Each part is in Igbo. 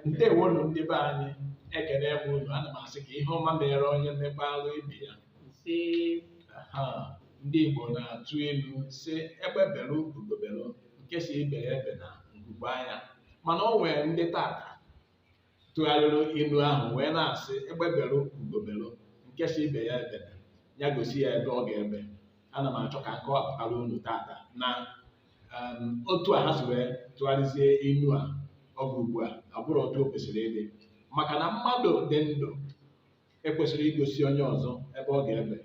ndewonu ndị be anyị ekene m unu ana m asị ka ihe ọma mere onye mekwaarụ ibe ya Ise. ha ndị Igbo na-atụ ilu sị egbe bere ugo bere nke sị ibe ya ebena nku kwaa ya mana o nwere ndị tata tụgharịrị ilu ahụ wee na-asị egbe bere ugo bere nke sị ibe ya ebena ya gosi ya ebe ọ ga-ebe ana m achọ ka m kọwapụtara unu tata na otu a ha si wee tụgharịzie inu a oge ugbu a abụrọ otu o kwesịrị ịdị maka na mmadụ dị ndụ ekwesịghị igosi onye ọzọ ebe ọ ga-ebe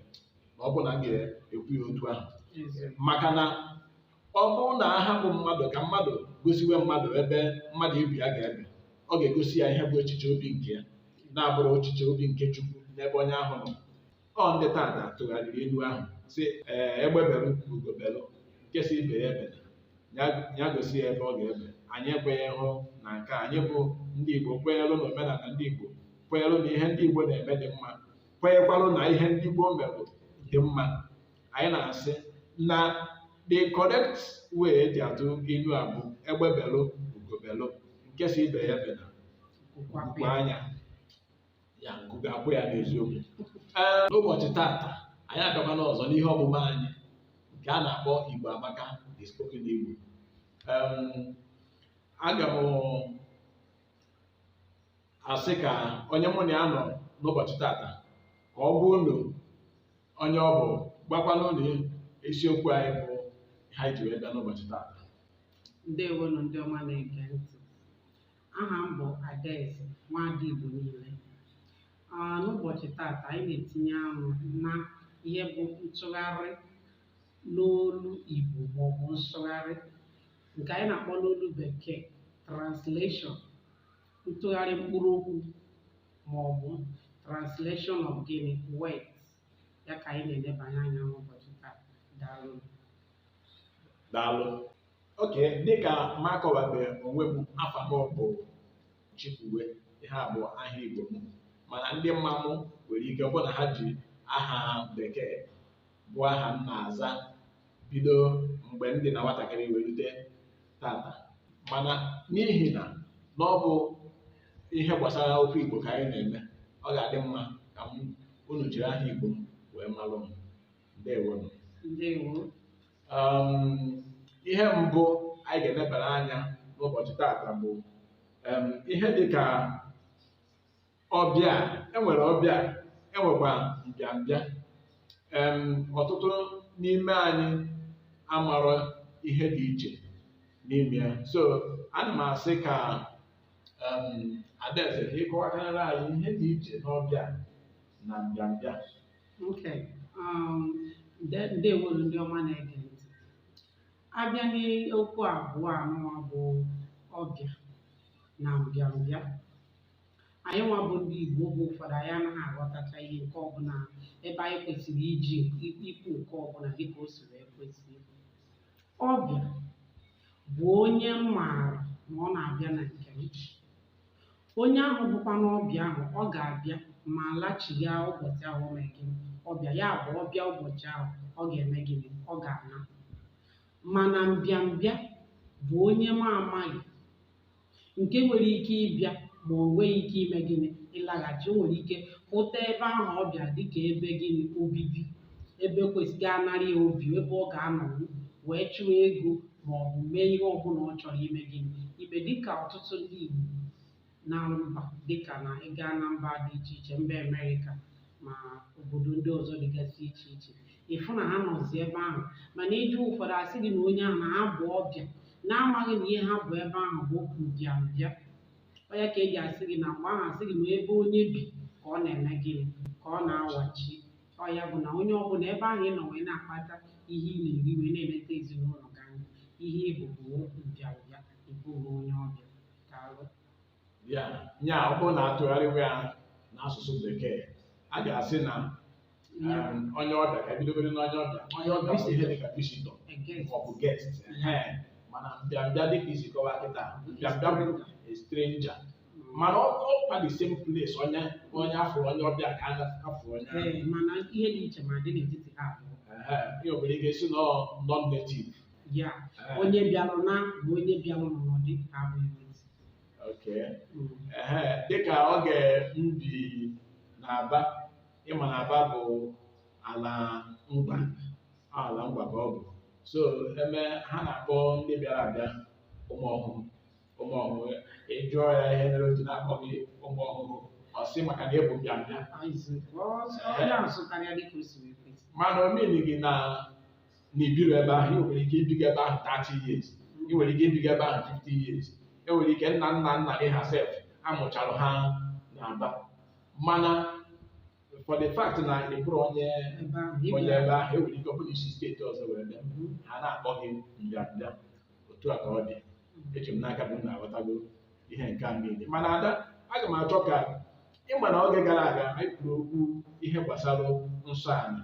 ma ọ bụ na m ga-ekwu ya otu ahụ maka na ọ bụrụ na a hapụ mmadụ ka mmadụ gosiwe mmadụ ebe mmadụ ibe ya ga-ebe ọ ga-egosi ya ihe bụ echiche obi nke ya na-abụrọ echiche obi nke Chukwu n'ebe onye ahụ nọ ọ ndị tata tụgharịrị ilu ahụ sị ee egbe belu ka ugo belu nke sị ibe ya ebena ya gosi ya ebe ọ ga-ebe anyị ekweghị hụ na nke anyị bụ ndị Igbo kwenyelụ na omenala ndị Igbo kwenyelụ na ihe ndị Igbo na-eme dị mma kwenyekwalụ na ihe ndị Igbo merụ dị mma anyị na-asị na the correct way e ji atụ ilu a bụ egbe belu ugo belu nke sị ibe ya ebena nku kwaa ya ya nku ga-akwa ya n'eziokwu ee n'ụbọchị tata anyị abịakwana ọzọ n'ihe ọmụma anyị nke a na-akpọ Igbo Amaka the spoken Igbo Em, aga m asị ka onye mụ na ya nọ n'ụbọchị tata ka ọ gwa unu onye ọ bụ gwakwanụ unu isiokwu anyị bụ ihe anyị ji wee bịa n'ụbọchị tata ndewonụ ndị ọma na-ege ntị aha m bụ Adaeze nwaada Igbo niile Ah, n'ụbọchị tata anyị na-etinye anụ na ihe bụ ntụgharị n'olu Igbo maọbụ nsụgharị nke anyị na-akpọ n'olu bekee translation ntụgharị mkpụrụ okwu maọbụ translation of gịnị words ya ka anyị na-elebanye anya n'ụbọchị taa daalụ daalụ okay dịka m akọwabeghị onwe m afa m bụ Chikwuwe ihe a bụ aha Igbo m mana ndị ma m nwere ike bụ na ha ji aha bekee bụ aha m na-aza bido mgbe m dị na nwatakịrị wee rute tata mana n'ihi na na ọ bụ ihe gbasara okwu Igbo ka anyị na-eme ọ ga-adị mma ka m unu jiri aha Igbo m wee malụ m ndewonụ ndewo um, ihe mbụ anyị ga-elebara anya n'ụbọchị tata bụ um, ihe dị ka ọbịa enwere ọbịa enwekwa mbịambịa um, ọtụtụ n'ime anyị amarọ ihe dị iche n'ime ya so ana m asị ka um, adaeze ka ị kọwakarịrị anyị ihe dị iche n'ọbịa na mbịambịa Okay. Um, ndewonụ ndị ọma na-ege ntị. A bịa n'okwu abụọ anụwa bụ ọbịa na mbịambịa. Anyị nwa bụ ndị Igbo oge ụfọdụ anyị anaghị aghọtacha ihe nke ọbụla ebe anyị kwesịrị iji ikwu nke ọbụla dịka o si wee kwesị. Ọbịa bụ onye m maara na ọ na-abịa na nke m. Onye ahụ bụkwanụ ọbịa ahụ, ọ ga-abịa ma lachigha ụbọchị ahụ o mere gịnị? Ọ bịa. Ya bụ, ọ bịa ụbọchị ahụ, ọ ga-eme gịnị? Ọ ga-ana. Mana mbịambịa bụ onye m amaghị nke nwere ike ịbịa ma o nweghị ike ime gịnị? Ịlaghachi. O nwere ike hụta ebe ahụ ọ bịa dịka ebe gịnị? Obibi. ebe kwesịrị anara ya obi ebe ọ ga-anọrọ wee chụọ ego ma ọ bụ mee ihe ọbụla ọ chọrọ ime gịnị ime dịka ọtụtụ ndị Igbo nọ na mba dịka na ị gaa na mba dị iche iche mba Amerịka ma obodo ndị ọzọ dịgasị iche iche ị fụ na ha nọzi ebe ahụ mana ị jụọ ụfọdụ asị gị na onye ahụ na ha bụ ọbịa n'amaghị na ihe ha bụ ebe ahụ bụ okwu mbịambịa ọ ya ka eji asị gị na mgbe ahụ asị gị na ebe onye bi ka ọ na-eme gịnị ka ọ na-awachi ọ ya bụ na onye ọbụla ebe ahụ ị nọ wee na-akpata ihe ị na-eri wee na-eleta ezinụlọ gị anya ihe ị bụ bụ mbịambịa ị bụghị onye ọbịa daalụ ya ya ọ bụrụ na a tụgharịwa ya n'asụsụ bekee a ga-asị na um, onye ọbịa ka e bidogodu n'onye ọbịa onye ọbịa bụ ihe dịka visitor A guest. ma ọ bụ guest ehe. mana mbịambịa dịka i si kọwaa kịta mbịambịa bụ a stranger mana ọ ọ kwa the same place onye onye a fụrụ onye ọbịa ka a fụrụ onye ahụ. Ee, mana ihe dị iche ma dị n'etiti ha abụọ Ehe, ihe obere ị ga-esi nọ non native ya onye bịara na bụ onye bịara n'ọnọdụ ka abụghị n'ezi. okay Mm. ehe dịka oge m bi na aba ị ma na aba bụ ala ngwa ala ngwa ka ọ bụ so em ha na-akpọ ndị bịara abịa ụmụ ọhụrụ ụmụ ọhụrụ ị jụọ ya ihe mere o ji na-akpọ gị ụmụ ọhụrụ ọ sị maka na ịbụ mbịambịa mana o meanighị na na ibiro ebe ahụ ị nwere ike ibiga ebe ahụ 30 years ị nwere ike ibiga ebe ahụ 50 years e nwere ike nna nna nna gị ha sef amụchara ha na Aba mana for the fact na ị bụrọ onye onye ebe ahụ e nwere ike ọ bụrụ i si steeti ọzọ were bịa ha na-akpọ gị mbịambịa otu a ka ọ dị eji m n'aka bụ na-aghọtago ihe nke a niile mana Ada aga m achọ ka ịma na oge gara aga anyị kwuru okwu ihe gbasara nsọ ala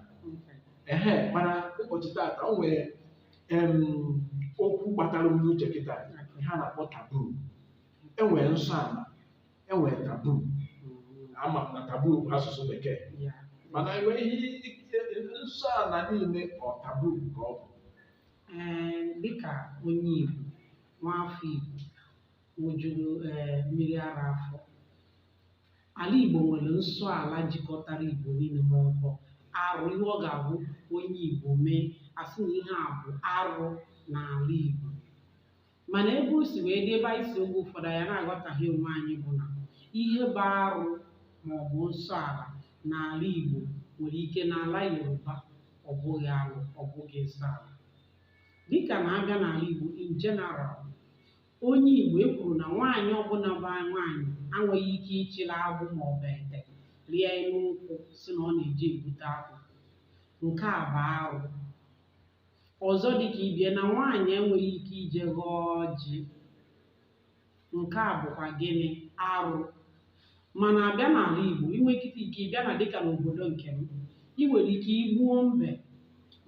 ehe mana ụbọchị taata o nwere em, okwu gbatara m n'uche kịta ihe a na-akpọ taboo enwere nsọ ala enwere taboo ama m na taboo bụ asụsụ bekee mana enweghị nsọ ala niile ọ taboo ka ọ bụ Ee, dịka onye Igbo, nwaafọ Igbo ṅụjuru ee mmiri ara afọ, ala Igbo nwere nsọ ala jikọtara Igbo niile ma ọ bụ arụ ihe ọ ga-abụ onye Igbo mee asị na ihe a bụ arụ n'ala Igbo. mana ebe o si wee dị ebe anyị si oge ụfọdụ anyị na-aghọtaghị onwe anyị bụ na ihe bụ arụ ma ọ bụ nsọ ala n'ala Igbo nwere ike n'ala Yoruba ọ bụghị arụ ọ bụghị nsọ ala dịka na abịa n'ala Igbo in general onye Igbo e kwuru na nwaanyị ọbụla bụ nwaanyị enweghị ike ịchịla agbụ ma ọ bụ ete rịa elu nkwụ sị na ọ na-eje ebute akwụ nke a bụ arụ ọzọ dị ka ibie na nwaanyị enweghị ike ije ghọọ ọjị nke a bụkwa gịnị arụ mana abịa n'ala Igbo inwe ike ịbịa na dịka n'obodo nke m ị nwere ike igbuo mbe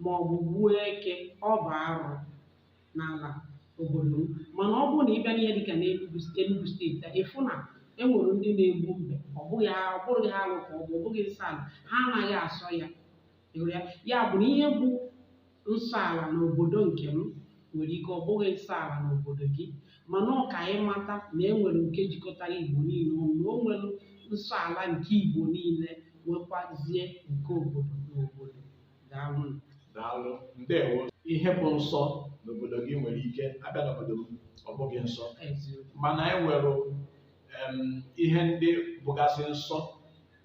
ma ọ bụ gbuo eke ọ bụ arụ n'ala obodo m mana ọ bụrụ na ịbịa n'ihe dịka n'Enugu Enugu steeti a ịfụ na enwere ndị na-egbu mbe ọ bụghị ọ bụghị arụ ka ọ bụ ọ bụghị nsọ ala ha anaghị asọ ya Ị hụrụ ya ya bụ na ihe bụ nsọ ala n'obodo nke m nwere ike ọ bụghị nsọ ala n'obodo gị mana ọ ka anyị mata na e nwere nke jikọtara igbo niile ọnụ na o nwere nsọ ala nke igbo niile nwekwazie nke obodo na obodo daalụ daalụ ndewo ihe bụ nsọ n'obodo gị nwere ike abịa n'obodo m ọ bụghị nsọ eziokwu mana e nwere em, ihe ndị bụgasị nsọ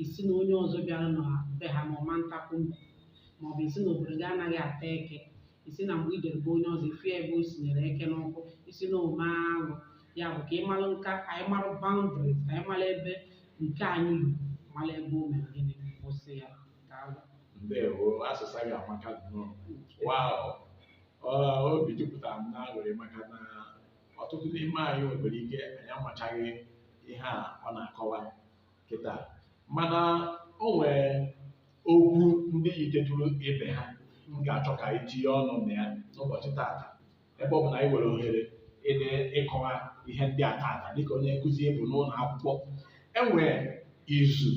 ị sị na onye ọzọ bịara na be ha na ọ ma ntakwu mbe ma ọ bụ ị sị na obodo gị anaghị ata eke ị sị na mgbe i jere be onye ọzọ ị fụ ya ebe o sinyere eke n'ọkụ ị sị na o me alụ ya bụ ka ị malụ nka ka anyị malụ boundaries ka anyị malụ ebe nke anyị lu malụ ebe o mere gịnị kwụsị ya daalụ ndewo asụsụ gị amaka nnọọ wow Ọ, obi jupụtara m n'aṅụrị maka na ọtụtụ n'ime anyị nwere ike anyị amachaghị ihe a ọ na-akọwa kịta mana o nwee okwu ndị yitetụrụ ibe ha m ga-achọ ka anyị tinye ọnụ na ya n'ụbọchị taata ebe ọ bụ na anyị nwere ohere ịdị ịkọwa ihe ndị a taata dịka onye nkụzi ị bụ n'ụlọ akwụkwọ e nwee izu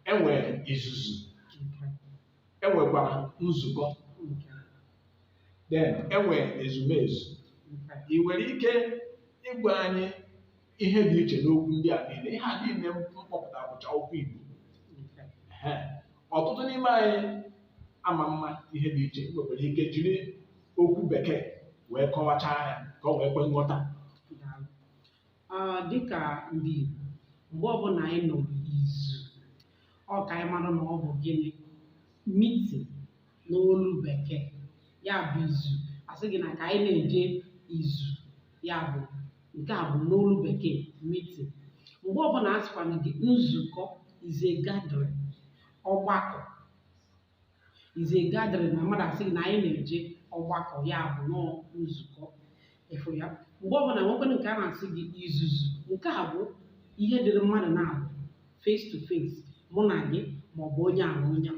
e nwee izuzu e nwekwara nzukọ then e nwee ezumezu ị nwere ike ịgwa anyị ihe dị iche n'okwu ndị a niile ihe a niile m kpọpụtara bụcha okwu Igbo Ehe. ọtụtụ n'ime anyị ama mma ihe dị iche nwekwara ike jiri okwu bekee wee kọwachaa ya ka ọ wee kwe nghọta Daalụ. Ah, dịka ndị Igbo mgbe ọbụla anyị nọ n'izu ọ ka anyị mara na ọ bụ gịnị meeting n'olu bekee ya bụ izu a sị gị na ka anyị na-eje izu ya bụ nke a bụ n'olu bekee meeting mgbe ọbụla a sịkwana gị nzukọ is a gathering ọgbakọ is a gathering na mmadụ asị gị na anyị na-eje ọgbakọ ya bụ na ọ nzukọ ị fụ ya mgbe ọbụla nwekwana nke a na-asị gị izuzu nke a bụ ihe dịrị mmadụ naabọ face to face mụ na gị maọbụ onye ahụ onye a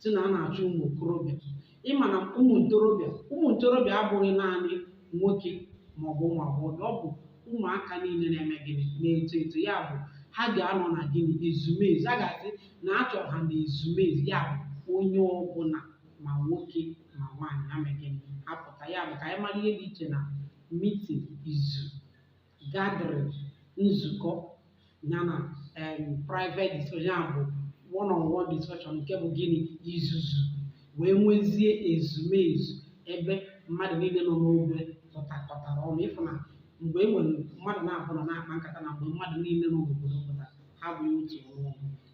sị na a na-achọ ụmụ okorobịa ị ma na ụmụ ntorobịa ụmụ ntorobịa abụghị naanị nwoke ma ọ bụ ụmụ agbọghọ ọ bụ ụmụaka niile na-eme gịnị na-eto eto ya bụ ha ga-anọ na gịnị ezumezu a ga-asị na a chọrọ ha na ezumezu ya bụ onye ọbụla ma nwoke ma nwaanyị ha mee gịnị apụta ya bụ ka anyị mara ihe dị iche na meeting izu gathering nzukọ ya na em, private discussion ya bụ one on one discussion nke bụ gịnị izuzu wee nwezie ezumezu ebe mmadụ niile nọ n'ogbe pụtakọtara ọnụ ị fụ na mgbe e nwere mmadụ naabọ nọ na-akpa nkata na mgbe mmadụ niile nọ n'obodo pụtara ha bụ otu ọnụ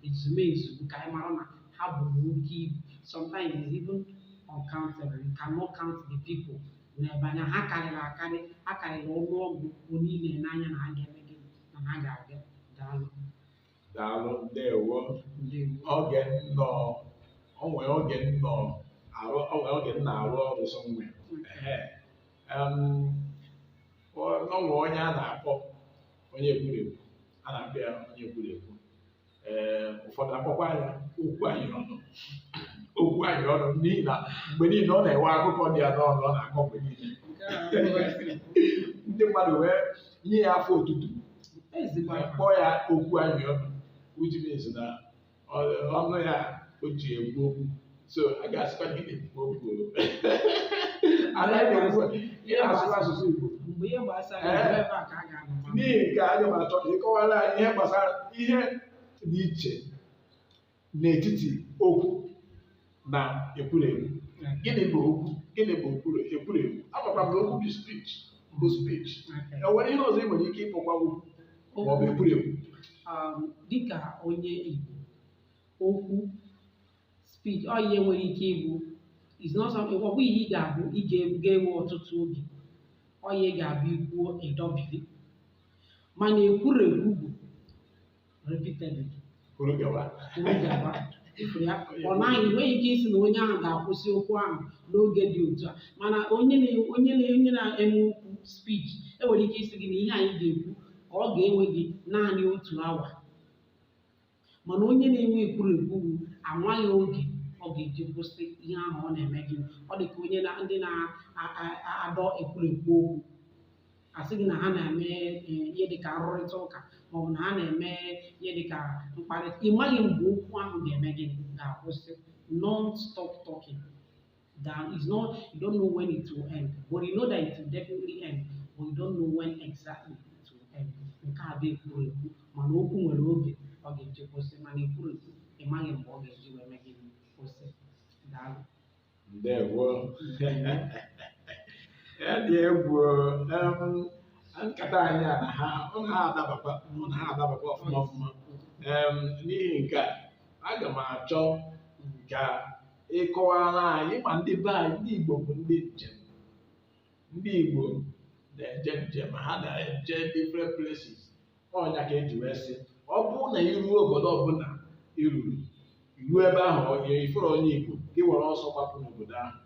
ezumezu ka anyị mara na ha bu oke ibu sometimes it's even uncountable you cannot count the people n'ebe na ha karịrị akarị ha karịrị ọnụ ọgụgụ ị na-ele anya na ha ga-eme gịnị na ha ga-abịa daalụ daalụ ndewo ndewo oge m nọ o nwee oge m nọ arụ o nwee oge m na-arụ ọrụ somewhere em ọ ọ nwee onye a na-akpọ onye ekwurekwu a na-akpọ ya onye ekwurekwu ee ụfọdụ akpọkwa ya okwu anyị ọnụ okwu anyị ọnụ n'ihi na mgbe niile ọ na-enwe akụkọ dị ya n'ọnụ ọ na-akọ mgbe niile ndị mmadụ wee nye ya afa otutu ezigbo anyị kpọọ ya okwu anyị ọnụ which means na ọnụ ya o ji ekwu okwu so a ga-asịkwa gị na-ekwukwa okwu o. anaghị asị ị na-asụkwa asụsụ Igbo mgbe ihe gbasara Eh. ebe a ka a ga-anọ ma n'ihi nke a aga m achọ ka ị kọwara anyị ihe gbasara ihe dị iche n'etiti okwu na ekwurekwu gịnị bụ okwu gịnị bụ ekwurekwu amakwa m na okwu bụ speech bụ speech Okay. e nwere ihe ọzọ ị nwere ike ịkpọkwa okwu ma ọ bụ ekwurekwu Um, dịka onye Igbo okwu speech ọ ihe nwere ike ịbụ is not something ọ bụ ihe ị ga-abụ ị ga- ga-ewe ọtụtụ oge ọ ihe ga-abụ i kwuo ị dọbili mana ekwurekwu bụ repeatedly kwuru gawa kwuru gawa ị fụrụ ya ọ naghị e nweghị ike ịsị na onye ahụ ga-akwụsị okwu ahụ n'oge dị otu a mana onye na- onye na- onye na-eme okwu speech e nwere ike ịsị gị na ihe anyị ga-ekwu ka ọ ga-ewe gị naanị otu awa mana onye na-enwe ekwurekwu amaghị oge ọ ga-eji kwụsị ihe ahụ ọ na-eme gị ọ dị ka onye na ndị na-adọ ekwurekwu okwu a sị gị na ha na-eme eh, ihe dịka nrụrịta ụka maọbụ na ha na-eme ihe dịka mkparịta ị maghị mgbe okwu ahụ ga-eme gịnị ga-akwụsị non-stop talking down. It's not, you don't know when it will end, but you know that it will definitely end, but you don't know when exactly it will end. Nke a bụ ekwurekwu mana okwu nwere oge ọ ga-eji kwụsị mana ekwurekwu ị maghị mgbe ọ ga-eji wee mee gịnị kwụsị. Daalụ. Ndewo. Ya dị egwu em, nkata anyị a na ha ọ na ha adabakwa mụ na ha adabakwa ọfụma ọfụma Em, n'ihi nke a aga m achọ ka ịkọwara anyị ma ndị be anyị ndị Igbo bụ ndị njem ndị Igbo na-eje njem ha na-eje different places ọ nya ka e ji wee sị ọ bụrụ na i ruo obodo ọbụla i ruru i ruo ebe ahụ ị fụrọ onye Igbo gị were ọsọ gbapụ n'obodo ahụ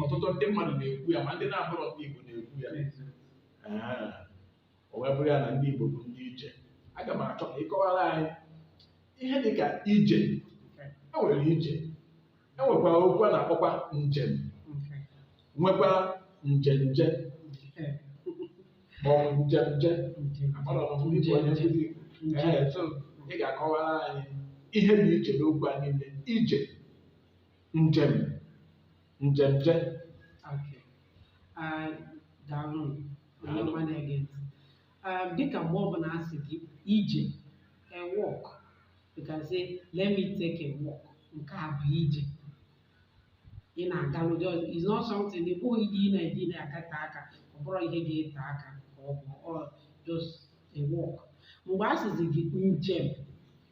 ọtụtụ ndị mmadụ na-ekwu ya ma ndị na-abụrọ ndị Igbo na-ekwu ya o wee bụrụ ya na ndị Igbo bụ ndị ije aga m achọ ka ị kọwara anyị ihe dị ka ije e nwere ije e nwekwara okwu a na-akpọkwa njem nwekwa njenje maọbụ njenje agbara m ndị Igbo onye nkụzi Ee, so ị ga-akọwara anyị ihe dị iche n'okwu a niile ije njem njemje Okay. Ah, daalụ onye Daalụ. ọma na-ege ntị. Ah, dịka mgbe ọbụla a sị gị ije a walk you can say let me take a walk nke a bụ ije ị na-agalụ just it's not something ọ bụghị ihe ị na-eji na-agate aka ọ bụrọ ihe ga-ete aka ka ọ bụ ọ just a walk mgbe a sịzi gị njem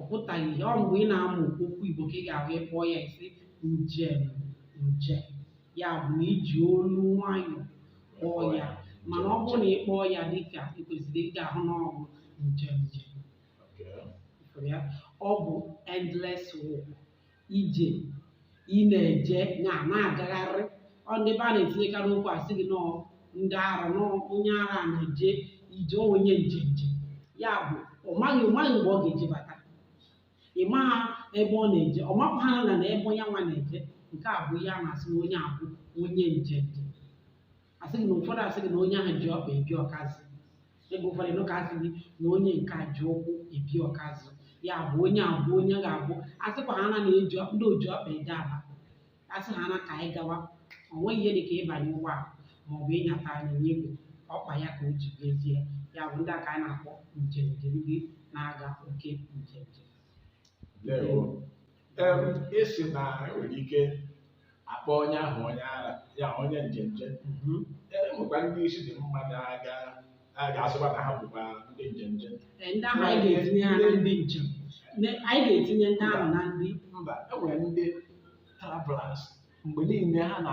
ọ pụtaghị ihe ọ mgbe ị na-amụ okwu Igbo ka ị ga-ahụ ịkpọ ya ị sị njem njem ya bụ na iji olu nwayọọ kpọọ ya mana ọ bụrụ na ị kpọọ ya dịka ị kwesịrị ị ga-ahụ na ọ bụ njenje Okay. Ị fụrụ ya ọ bụ endless walk ije ị na-eje na na-agagharị ọ ndị be a na-etinyekarị okwu asị gị na ọ ndị ara na ọ onye ara a na-eje ije ọ onye njenje ya bụ ọ maghị ọ maghị mgbe ọ ga-eji bata ị maha ebe ọ na-eje ọ makwaghị na na ebe ya nwa na-eje nke a bụ ihe a na-asị na onye a bụ onye njenje asị gị na ụfọdụ asị gị na onye ahụ ji ọkpa ebi ọkazị ebe ụfọdụ ịnụ ka asị gị na onye nke a ji ụkwụ ebi ọkazị ya bụ onye a bụ onye ga-abụ asịkwa ha na na-eji ọ- ndị oji ọkpa eje Aba asị ha na ka anyị gawa o nweghị ihe dị ka ịbanye ụgbọala ma ọ bụ ịnyata anyịnya igwe ọkpa ya ka o ji jezie ya bụ ndị a ka anyị na-akpọ njenje ndị na-aga oke njenje ndewo esi na enwere ike akpọ onye ahụ onye ara ya onye njenje mhm. e nwekwa ndị isi dị mma na-aga ga-asịkwa na ha bụkwa ndị njenje ndị ahụ anyị ga-etinye ha na ndị njem anyị ga-etinye ndị ahụ na ndị mba enwere ndị travelers mgbe niile ha na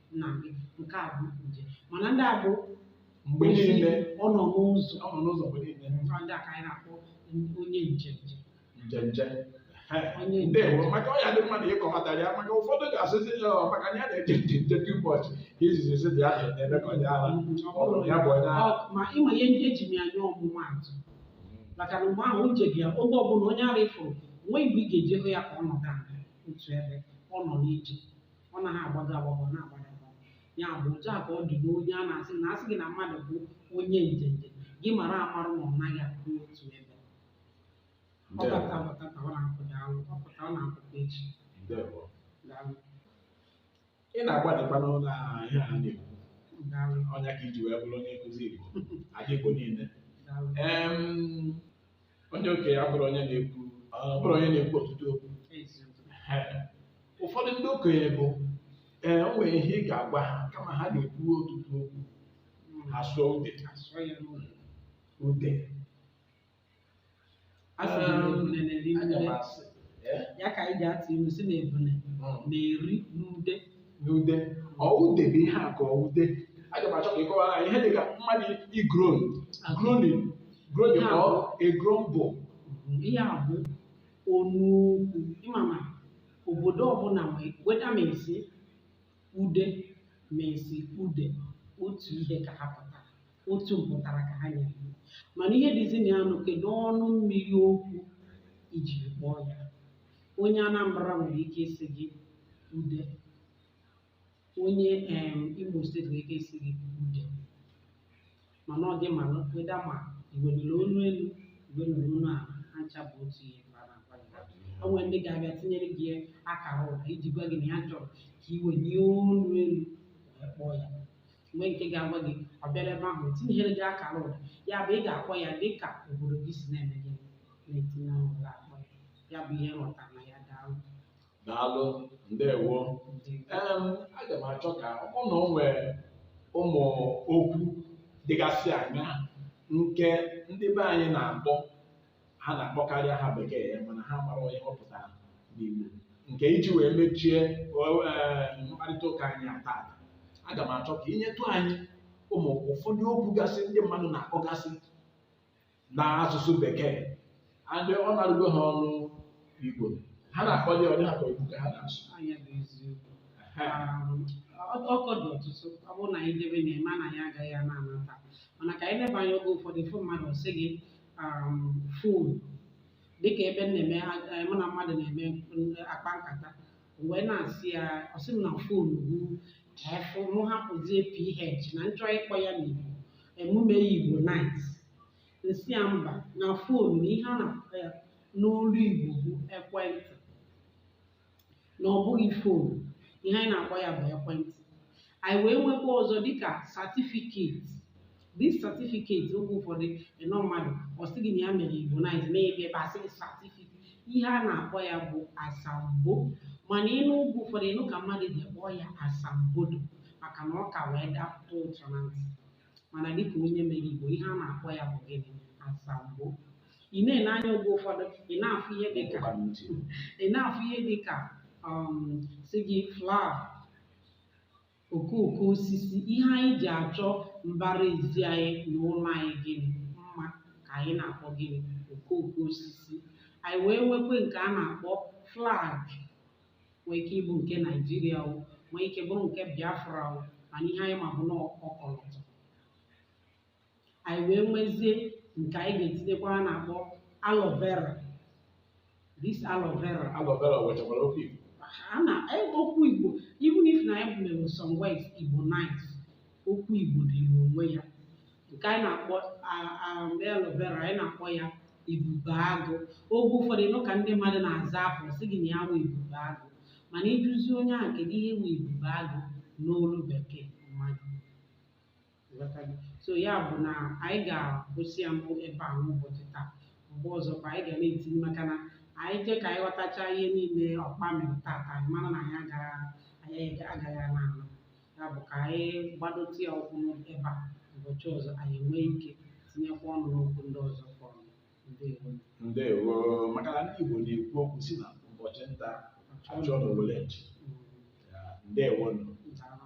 nna gị nke a bụ njem mana ndị a bụ mgbe niile ọ nọ n'ụzọ ọ nọ n'ụzọ mgbe niile ọ ndị a ka anyị na-akpọ onye nje nje njenje onye nje ndewo maka ọ ya dị mma na ị kọwatara ya maka ụfọdụ ga-asịzi ya ọ maka na ya na-eje nje nje dị ụbọchị ka izizi si dị ya na-eme ka onye ara ọ bụrụ ya bụ onye ara Ọ- ma ịma ihe ndị eji m ya nye ọmụmaatụ maka na mgbe ahụ o jeghị ya oge ọbụla onye ara ị fụrụ nweghị mgbe ị ga-eji hụ ya ka ọ nọdụ ala otu ebe ọ nọ n'ije ọ naghị agbago agbago na-agbago agbago ya bụ otu a ka ọ dị n'onye a na-asị na asị gị na mmadụ bụ onye njenje gị mara amarụ na ọ naghị akwụ otu ebe ọ Ndewo. bata bata ka ọ na-apụ daalụ ọ pụta ọ na-apụkwa echi Ndewo. daalụ ị na-agbalịkwa n'ụlọ a ihe a na-ekwu daalụ ọ ya ka i ji wee bụrụ onye nkụzi Igbo ndị Igbo niile daalụ Em, onye okenye abụrọ onye na-ekwu ọ bụrọ onye na-ekwu ọtụtụ okwu ụfọdụ ndị okenye bụ ee o nwere ihe ị ga-agwa ha kama ha na-ekwu ọtụtụ okwu ha sụọ ude ude anya m asị ee ya ka anyị ji atụ ilu sị na ebune Mm. na-eri n'ude n'ude ọ ude bụ ihe a ka ọ ude aga m achọ ka ị kọwara anyị ihe dị ka mmadụ ị-groan groaning groaning Ya. ka ọ ị-groan bụ ihe a bụ onu okwu ịmama obodo ọbụla nwe- whether ma ị sị ude ma ị sị ude otu ihe ka ha pụtara otu mpụtara ka ha nyere ya mana ihe dịzi na ya nụ kedu ọnụ mmiri okwu i jiri kpọọ ya onye Anambra nwere ike ịsị gị ude onye em Imo steeti nwere ike ịsị gị ude mana ọ dị ma whether ma i welere olu elu i welere olu ala ha ncha bụ otu ihe ka a na-agwa gị o nwere ndị ga-abịa tinyere gị akara ụda iji gwa gị na ya chọrọ ka i welie olu elu wee kpọọ ya nwee nke ga-agwa gị ọ bịara ebe ahụ tinyere gị akara ụda ya bụ ị ga-akpọ ya dị ka obodo gị si na-eme gị na-etinye ahụ ụda akpọ ya ya bụ ihe m ghọta na ya daalụ daalụ ndewo Em, aga m achọ ka ọ na o nwee ụmụ okwu dịgasị anya nke ndị be anyị na-akpọ ha na-akpọkarị aha bekee ya mana ha amarọ ihe ọ pụtara n'Igbo nke iji wee mechie eh, mkparịta ụka anyị a taata aga m achọ ka i nyetụ anyị ụmụ ụfọdụ okwu gasị ndị mmadụ na-akpọgasị n'asụsụ bekee and ọ na-arụgo ha ọnụ Igbo ha na-akpọ ya ọ dị ha ka ọ Igbo ka ha na-asụ ọ nya bụ eziokwu okwu dị ọtụtụ ọ bụrụ na anyị debe na-eme anyị agaghị ana taa mana ka anyị leba anya oge ụfọdụ ị fụ mmadụ sị gị um, fon dịka ebe m na-eme eh, mụ na mmadụ na-eme akpa nkata wee na-asị ya ọ sị m na fon bụ F mụ hapụzie PH na m chọ ịkpọ ya n'Igbo mụ mee ya Igbonize m sị ya mba na fon na ihe a na-akpọ ya n'olu Igbo bụ ekwentị na ọ bụghị fon ihe anyị na-akpọ ya bụ ekwentị anyị wee nwekwa ọzọ dịka certificate this certificate oge ụfọdụ ị nụ mmadụ ọ sị gị na ya mere Igbonize n'ebe ebe a sị gị satifiketi ihe a na-akpọ ya bụ asambo mana ị nụ oge ụfọdụ ị nụ ka mmadụ ji kpọọ ya asambodo maka na ọ ka wee dapụta ụtọ na ntị mana dịka onye mere Igbo ihe a na-akpọ ya bụ gịnị asambo ị na-ele anya oge ụfọdụ ị na-afụ ihe dịka ị na-afụ ihe dịka um, sị gị flower okooko osisi ihe anyị ji achọ mbara ezi anyị na ụlọ anyị gịnị mma ka anyị na-akpọ gịnị okooko osisi anyị wee nwekwe nke a na-akpọ flag nwee ike ịbụ nke Naijiria o nwee ike bụrụ nke Biafra o mana ihe anyị ma bụ na ọkọlọtọ anyị wee nwezie nke anyị ga-etinyekwa a na-akpọ aloe vera this aloe vera aloe vera nwechakwara okwu Igbo a na okwu Igbo even if na anyị mere some words Igbonize okwu Igbo dị n'onwe ya nke anyị na-akpọ aloe vera anyị na-akpọ ya ebube agụ oge ụfọdụ ị nụ ka ndị mmadụ na-aza afa sị gị na ya wụ ebube agụ mana ị jụzie onye ahụ kedu ihe wụ ebube agụ n'olu bekee mmadụ so ya bụ na anyị ga-akwụsị ya n'ebe a n'ụbọchị taa mgbe ọzọ ka anyị ga na-etinye maka na anyị jee ka anyị ghọtacha ihe niile ụkpa mịrị tata anyị mara na anyị agaghị anyị agaghị ana ala ya bụ ka anyị gbadotụ ya ụkwụ n'ebe a ụbọchị ọzọ anyị enwee ike tinyekwa ọnụ n'okwu ndị ọzọ fọrọ ndewo ndewo maka na ndị Igbo na-ekwu okwu sị na ụbọchị nta a chụọ n'owele nchi Mm, ndewo nụ daalụ.